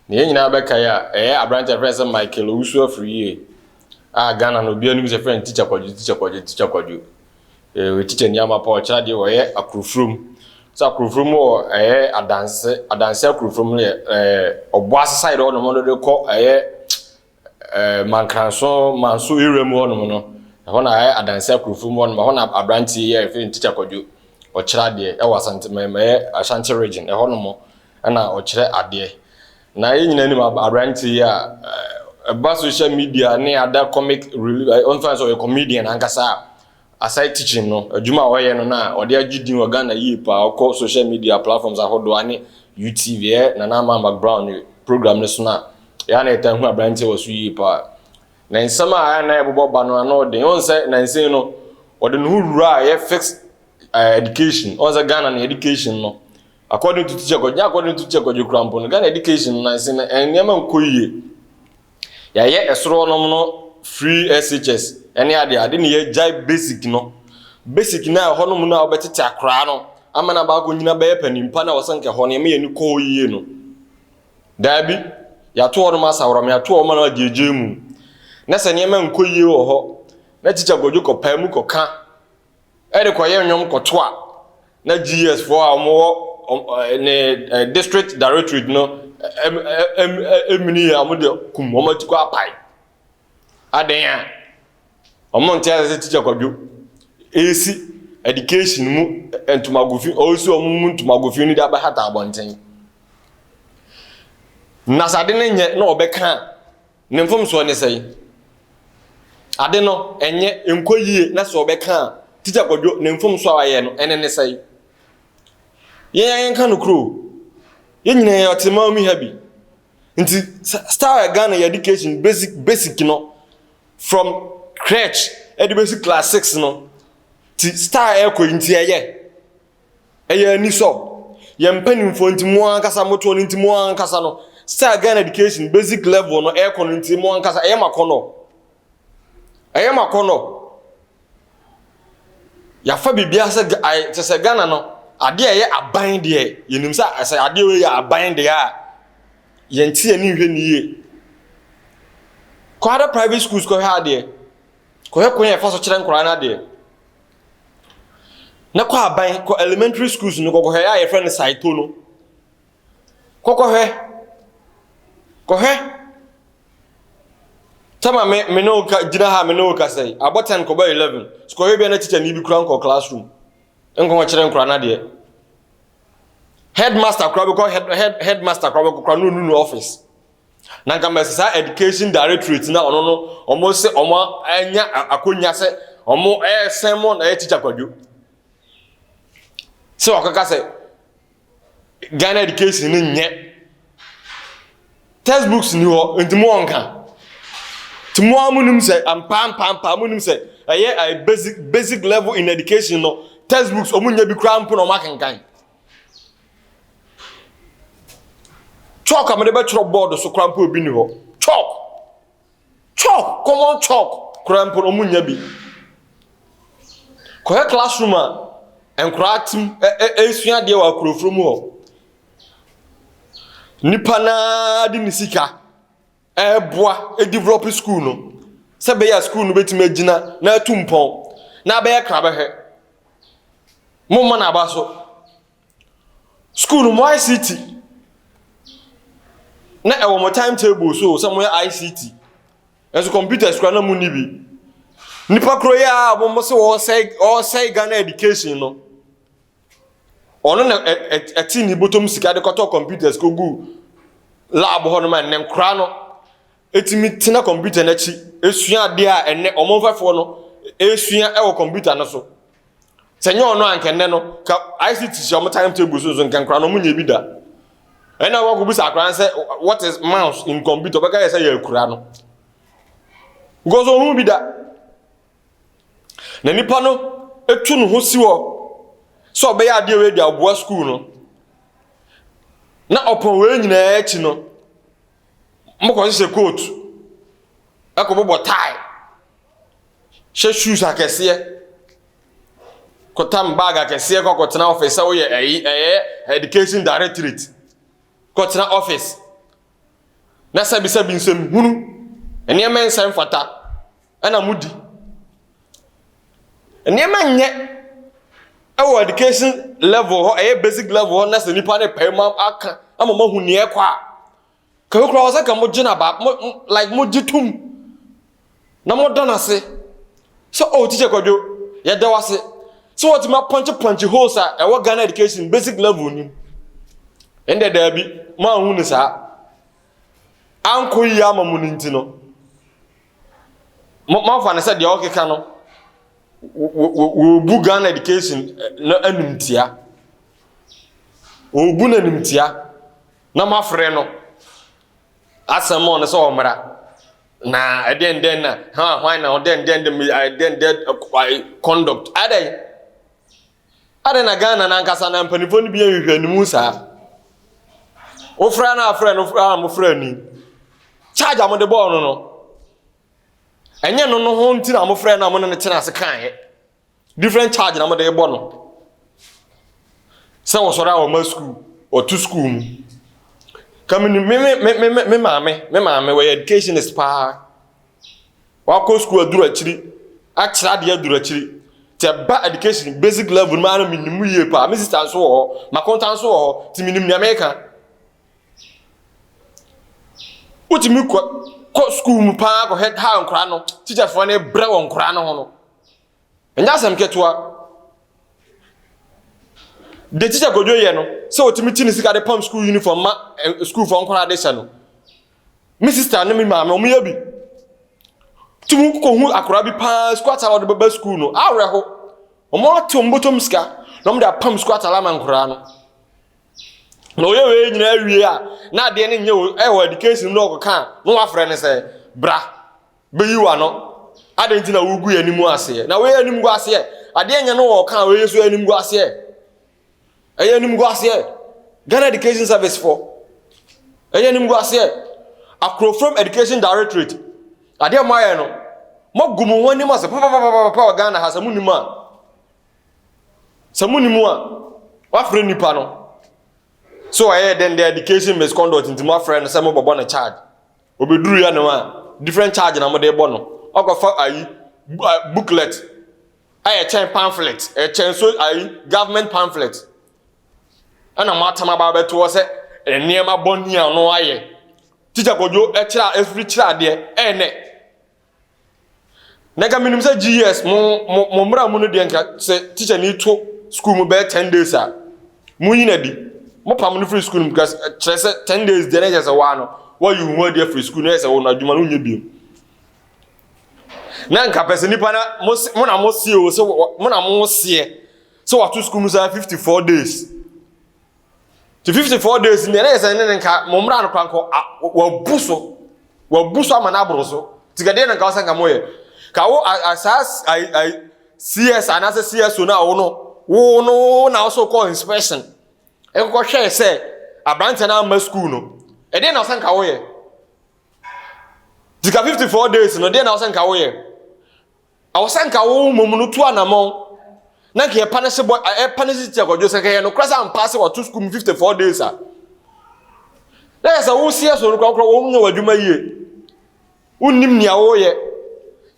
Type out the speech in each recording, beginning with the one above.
Na yɛn nyinaa bɛkae a, ɛyɛ aberante a yɛfrɛ sɛ Michael Owusu Afriyie a Ghana no obiara nim sɛ yɛfrɛ no Tikya Kwadwo, Tikya Kwadwo, Tikya Kwadwo. Eh, ɔyɛ tikya ni amapa, ɔkyerɛ adeɛ, ɔyɛ Akorofurom. So Akorofurom wɔ ɛyɛ adanse, adanse Akorofurom no yɛ ɛɛ Ɔboase side hɔnom no de kɔ ɛyɛ Mankanso, Manso area mu hɔnom no, ɛhɔ na ayɛ adansi akorofo mu hɔnom, ɛhɔ na aberanteɛ yi a yɛfrɛ no Tikya Kwadwo, ɔkyerɛ adeɛ ɛwɔ Asante, mɛ, mɛyɛ Ashanti region, ɛhɔnom ɛna ɔkyerɛ adeɛ. Na yɛn nyinaa nim ab, aberanteɛ yi a ɛba social media ne other comic reli, ɛ, ɔmfa ne sɛ ɔyɛ comedian ankasa a, Aside teaching no, adwuma a ɔyɛ no na ɔde agye din wɔ Ghana yie paa. Wokɔ social media platforms ahodoɔ a ne UTV, ɛyɛ Nana Amah McBrown ne program no so no a, ɛyɛ a na yɛtaa hu aberanteɛ wɔ so yie paa. Ne nsɛm a ɛyɛ a na ɛbobɔ ba no ano den. Wohu sɛ nansei no, ɔde ne ho wuraa ɛyɛ fixed eh, education. Wohu sɛ Ghana no education no, according to teacher Kwadwo, nyɛ according to teacher Kwadwo kura mpo no, Ghana education no nansei no, eh, nneɛma nkɔ yie. Yɛayɛ ɛsoro hɔnom no free SHS ne adeɛ ade ne yɛagyae basic no. Basic no a ɛhɔ nom no a wobɛtete akoraa no ama no aba akɔnyina bɛyɛ panimpa na wɔsɛ nka hɔ no yɛma yɛn ani kɔ hɔ yie no. Daabi, yɛato hɔnom asaworɔm, yɛato hɔ ma no agyeegyee mu. Na sɛ nneɛma nkɔ yie wɔ hɔ na tikya kɔdwo kɔpae mu kɔka. de kɔyɛ nnwom kɔto a, na GS foɔ a wɔwɔ ne district directorate no ɛmini yɛ wɔn de kum wɔn ati kɔ apae. Adɛn a? Wɔn nte ase sɛ teacher kwadwo ɛresi education mu ntomagofi, ɔresi wɔn mu ntomagofi no de abɛhata abɔnten. Na sɛ ade no nyɛ na wɔbɛka a, Ne mfomsoɔ ne sɛn? Ade no ɛnyɛ nkɔ yie na sɛ ɔbɛka a Tikya Kwadwo ne mfomsoɔ a wayɛ no ɛne ne sɛn? Yɛn a yɛnka nokorɛ o, yɛn nyinaa yɛ ɔteman mu ha bi. Nti style a Ghana yɛ education basic basic no from crèche ɛde bɛsi class six no ti style ɛkɔ yi nti ɛyɛ. Ɛyɛ anisɔ. Yɛn mpanimfoɔ nti mo ankasa motoɔ no nti mo ankasa no sɛ Ghana education basic level no ɛrekɔ no nti mo ankasa ɛyɛ mo akɔnɔ. Ɛyɛ mo akɔnɔ. Yɛafa biribiara sɛ kyɛ sɛ Ghana no adeɛ a ɛyɛ aban deɛ yɛnim sɛ sɛ adeɛ wei yɛ aban deɛ a yɛnte yɛn ani nhwɛ no yie. Kɔ other private schools kɔhwɛ adeɛ. Kɔhwɛ kwan a yɛfa so kyerɛ nkwadaa no adeɛ. na kɔ aban kɔ elementary schools no kɔkɔhwɛ a yɛfrɛ no saito no kɔkɔhwɛ kɔhwɛ tama me me ne wo ka gyina ha me ne wo kasa yi abɔ ten kɔbɔ eleven kɔhwɛ bi a na teacher ni bi kura nkɔ classroom nkɔnkɔ kyerɛ nkora no adeɛ headmaster kora bɛkɔ head head headmaster kora bɛkɔ kora no onunu office. na nka mɛsɛ saa education directorate na ɔno no ɔmo sɛ ɔmo anya akonya sɛ ɔmo ɛsɛn mo na ɛyɛ teacher kwadwo sɛ ɔkaka sɛ Ghana education no nyɛ textbooks ni hɔ nti mo ɔnka nti mo a mo nim sɛ ampaampampaa mo nim sɛ ɛyɛ basic basic level in education no textbooks ɔmo nya bi koraa mpo na ɔmo akenkan. chalk a mede bɛtwerɛ board so koraa mpo obi ni hɔ chalk chalk common chalk koraa mpo na ɔmo nya bi kɔhɛ classroom a nkoraa tim ɛsua adeɛ wɔ akorofuro mu hɔ nipa naa de ne sika ɛreboa develop sukuu no sɛ ɛbɛyɛ a sukuu no bɛtumi agyina na atu mpɔn na abɛyɛ krabɛhwɛ. Momma no aba so. Sukuu no mo ICT na ɛwɔ mo time table so sɛ moyɛ ICT nanso computers kora na monni bi. Nnipa koro yi a wɔn se wɔresɛe wɔresɛe Ghana education no, Ɔno na ɛte ne bɔtɔm sika de kɔtɔ computers kɔgu lab hɔ nom a nnɛ nkora no ɛtumi tena computer no akyi ɛsua adeɛ a ɛnnɛ ɔmo mfɛfoɔ no ɛsua ɛwɔ computer no so. Sɛ nyɛ ɔno anka nnɛ no ka ICT hyɛ ɔmo time table so nso nka nkora no ɔmo nyɛ bi da. Ɛna wɔkɔ bisa akora no sɛ what is mouse in computer ɔbɛka yɛ sɛ yɛ akura no. Because ɔmo bi da. Na nipa no tu ne ho si hɔ sɛ ɔbɛyɛ adeɛ wei de aboa sukuu no. Na ɔpɔn wei nyinaa akyi no, mokɔhyehyɛ coat, ɛkɔbobɔ tie, hyɛ shoes akɛseɛ, kɔtam bag akɛseɛ kɔ kɔtena office sɛ woyɛ ɛyi ɛyɛ education directorate kɔtena office na sɛbisɛbi nsɛm hunu nneɛma nsɛm fata na modi. Nneɛma nyɛ wɔ education level hɔ, ɛyɛ basic level hɔ na sɛ nipa no pae mu aka ama mo ahu nea ɛkɔ a, kɛkɛ koraa wɔ sɛ ka mo gyina ba mo like mo gye tum na mo da n'ase sɛ oh teacher kwadwo yɛda wase sɛ wɔtumi apɔnkye pɔnkye holes a ɛwɔ Ghana education basic level ni mu. ɛnde daabi moanhu no saa ankɔ yie ama mu no nti no Mo momfa no sɛ deɛ ɔkeka no wɔbu Ghana education eh, no animtia wɔbu no animtia na moafrɛ no asɛm ɔno sɛ ɔmmra na ɛdɛn dɛn na ha hwan na ɔdɛn dɛn dɛn dɛn dɛn conduct adɛn Adɛn na Ghana no ankasa na mpanimfoɔ no bi nhwehwɛ ne mu saa? Wofrɛ no afrɛ no a mofrɛ ni. Charge a mode bɔɔ no no, ɛnyɛ no no ho nti na mofrɛ no a mone no tena ase kaeɛ. Different charge na mode bɔ no. Sɛ wɔsɔre a wɔma sukuu, wɔto sukuu mu. Ka me me me me me maame, me maame wɔyɛ educationist paa. Wakɔ sukuu aduru akyiri, akyerɛ adeɛ aduru akyiri. Nti ɛba education basic level no mu ara menim mu yie paa. Me sista nso wɔ hɔ, m'akonta nso wɔ hɔ, nti menim nea meka. Wotumi kɔ kɔ sukuu mu paa kɔ head ha nkora no, tikyafoɔ no brɛ wɔ nkora no ho no. Ɛnyɛ asɛm ketewa. De tikya kodwo yɛ no, sɛ otumi ti ne sika de pam sukuu uniform ma eh, sukuufoɔ nkora de hyɛ no. Me sister ne me maame wɔn yɛ bi. Tum kɔ hu akwadaa bi paa sukuu atare wɔde bɛba sukuu no awerɛho. Wɔn ate wɔn bɔtɔm sika na wɔn de apam sukuu atare ama nkwadaa no. Na ɔyɛ wei nyinaa wie a na adeɛ no nyɛ wɔ ɛwɔ education na ɔkɔka a na wafrɛ no sɛ bra bɛyi wa no. Adeɛ nti na wogu yɛn anim aseɛ. Na wɔyɛ anim gu aseɛ. Adeɛ nyɛ no wɔka a wɔyɛ so anim gu aseɛ. Ɛyɛ animguaseɛ. Ghana Education Service foɔ. Ɛyɛ animguaseɛ. Akrofuram Education Directorate. Adeɛ a mo ayɛ no, mo agu mo ho anim ase papapapapa wɔ Ghana ha sɛ mo nim a. Sɛ mo nim a, wafrɛ nipa no. So ɔyɛ dɛn dɛ education misconduct nti mo afrɛ no sɛ mo bɛbɔ no charge. Obeduru yɛ no a, different charge na mo de bɔ no. Ɔkɔfa ayi booklet. a ɛkyɛn pamphlet ɛkyɛn so ayi government pamphlet ɛna mo atam aba abɛto hɔ sɛ nneɛma bɔne a ɔno ayɛ tikya kɔdwo ɛkyerɛ a ɛfiri kyerɛ adeɛ ɛyɛ nɛ na nka menim sɛ gs mo mo mo mmara mu no deɛ nka sɛ tikya ni to school mu bɛyɛ ten days a mo yi na di mo pam no firi school mu because eh, kyerɛ sɛ ten days deɛ na ɛkyɛ sɛ waa no wɔyi ho adi afiri school na ɛyɛ sɛ wɔn adwuma no nyɛ bio. na nka pɛ sɛ nipa na mo na mo sie o sɛ mo na mo seɛ sɛ wato sukuu mu saa fifty four days ti fifty four days mi ɛna yɛ sɛ ne ne nka mo mmra no kora nka wabu so wabu so ama n'aboro so ti ka deɛ na nka ɔsɛ nka mo yɛ ka wo asaa ayi ayi cs anaasɛ cso na wo no wo no wo na ɔsɛ kɔ inspection ɛkɔkɔ hwɛ sɛ aberanteɛ no ama sukuu no ɛdeɛ na ɔsɛ nka wo yɛ. Dzi ka fifty four days no, deɛ na ɔsɛ nka woyɛ? Ɔsɛ nka wo mmom no tu anamɔn na nka yɛpa ne se bɔ ɛpa ne se tia kɔdwo sɛ kɛyɛ no kora sɛ ampa sɛ wato sukuu mu fifty four days a na yɛ sɛ wo seɛ so no kora kora wɔn nyɛ w'adwuma yie wonnim nea wɔyɛ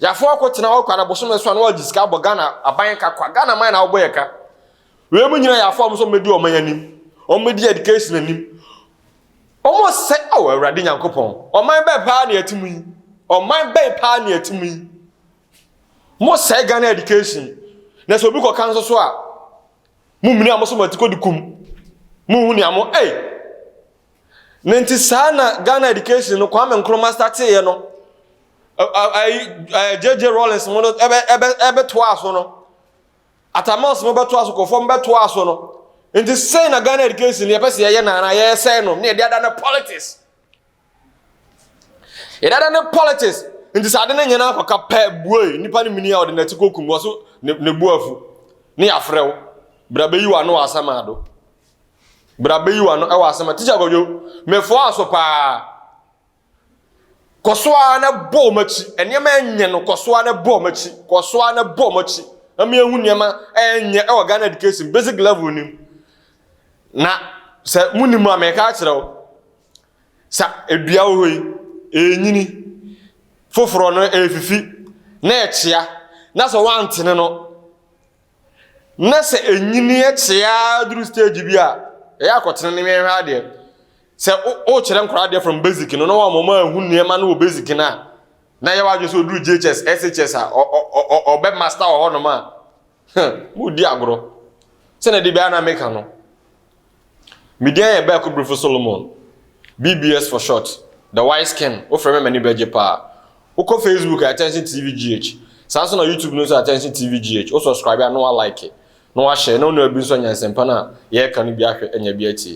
yɛafo akɔtena hɔ kwa na bosome so a na wɔagye sika abɔ Ghana aban ka kwa Ghana man na wɔbɔ yɛ ka Wei mu nyina yɛ afɔ ɔmo sɛ ɔmo bɛdi ɔman anim, ɔmo bɛdi education anim. Ɔmo sɛ ao Awurade Nyankopɔn, ɔman bɛn paa ne yɛte mu yi? Ɔman bɛn paa ne yɛte mu yi? Mo sɛe Ghana education, na sɛ obi kɔ ka nso so a, mo mini a mo so mo ti kɔ di kum. Mo hu nea mo ei! Ne nti saa na Ghana education no Kwame Nkrumah starteeɛ no, ɛɛ ɛɛ JJ Rawlings mo no ɛbɛ ɛbɛ ɛbɛ toa so no. Atamas no bɛtoa so kɔ fam bɛtoa so no nti sɛn na Ghana education yɛpɛ sɛ yɛyɛ na anaa yɛsɛe no ne yɛde ada no politics yɛde ada no politics nti sɛ ade no nyɛ no akɔka pɛ buei nipa no mini a ɔde n'ati kɔkum wɔ so ne bu afu ne yɛafrɛ wo bra bɛyi wɔ ano wɔ asɛm ado bra bɛyi wɔ ano wɔ asɛm a tikya kɔdwo mefoa so paa Kɔ so ara na bɔ wɔn akyi. Nneɛma nyɛ no, kɔ so ara na bɔ wɔn akyi. Kɔ so ara na bɔ wɔn akyi. Na mi ehu nneɛma nyɛ wɔ Ghana education basic level no mu. Na sɛ mu ni mu a, mɛka akyerɛ wo. Sɛ edua wɔ hɔ yi, enyini. Foforɔ no efifi, na ɛkyea. Na sɛ wɔantene no, na sɛ ɛnyini ɛkye ara duru stage bi a ɛyɛ akɔtena ne nwɛnhwɛ adeɛ sɛ wokyerɛ nkora adeɛ from basic no na wɔn wɔn ahu nneɛma no wɔ basic no a na yɛ wadwe sɛ ɔduru GHS SHS a ɔbɛ master wɔ hɔnom a modi agorɔ sɛnɛ de biara na meka no Me din yɛ Bɛɛko Brifo Solomon, BBS for short, The Wise Ken, wofrɛ me a m'ani bɛgye paa. Wokɔ Facebook a Attention TV GH, saa nso na YouTube no nso Attention TV GH, wo subscribe a na wa like, na wa share, na wo nua bi nso anya nsɛmpa no a yɛreka no bi ahwɛ, anya bi atie.